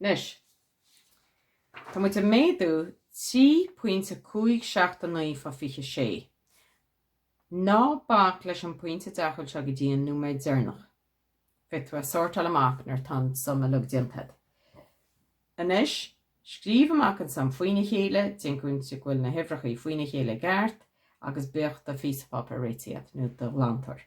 Anois, tá muid ag méadú trí pointe cúig seacht a naoi fá fiche sé. Ná bac leis an pointe deachúil seo go dtí an nóiméad deirneach. Féadfaidh tú é a sortáil amach nuair atá an sum uilig déanta a'd. Anois, scríobh amach an sum faoina chéile, déan cinnte go bhfuil na huimhreachaí faoina chéile i gceart agus bíodh do phíosa páipéir réití a'd, nó do ghlantóir.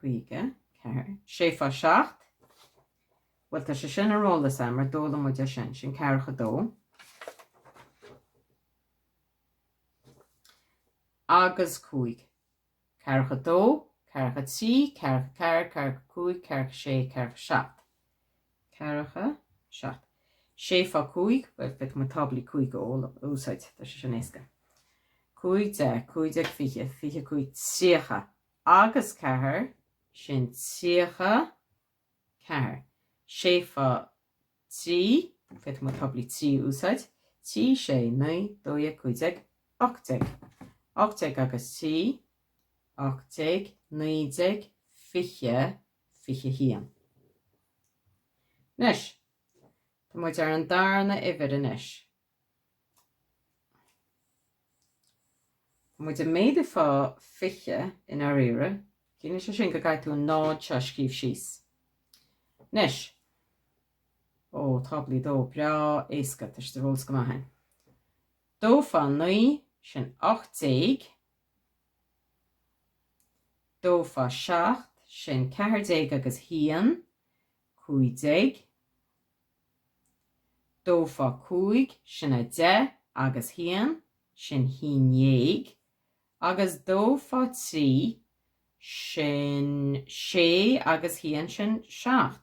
54. 6 fá seacht. Bhuel, tá sé sin ar eolas agam, mar d'fhoghlaim muid é sin. Sin ceathracha dó. Agus cúig. Ceathracha dó, ceathracha trí, ceathracha ceathair, ceathracha cúig, ceathracha sé, ceathracha seacht. Ceathracha seacht. Sé fá cúig, bhuel, féadfaidh mé táblaí cúig a úsáid, tá sé sin éasca. Cúig deich, cúig déag fiche, fiche cúig, tríocha agus ceathair, sin tríocha ceathair. Sé fá trí, féadfaidh mé táblaí trí a úsáid, trí, sé, naoi, dó dhéag, cúig déag, ocht déag. Ocht déag agus trí, ocht déag, naoi déag, fiche, 21. Anois, tá muid ar an darna uimhir anois. Tá muid ag méadú fá 20 i ndáiríre. Ciallaíonn sé sin go gcaithfidh tú an 0 seo a scríobh síos. Anois, ó, táblaí 2, breá éasca, tá siad ar eolas go maith againn. 2 fá 9, sin 18, dó fá seacht, sin ceathair déag agus haon, cúig déag, dó fá cúig, sin a deich agus haon, sin haon ndéag, agus dó fá trí, sin sé agus haon, sin seacht.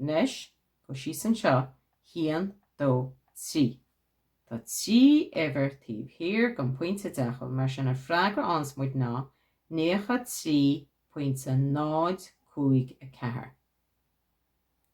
Anois, gabh síos anseo, haon, dó, trí. Tá trí uimhir taobh thiar den phointe deachúil, mar sin an freagra a fhaigheanns muid ná naocha trí pointe náid cúig a ceathair.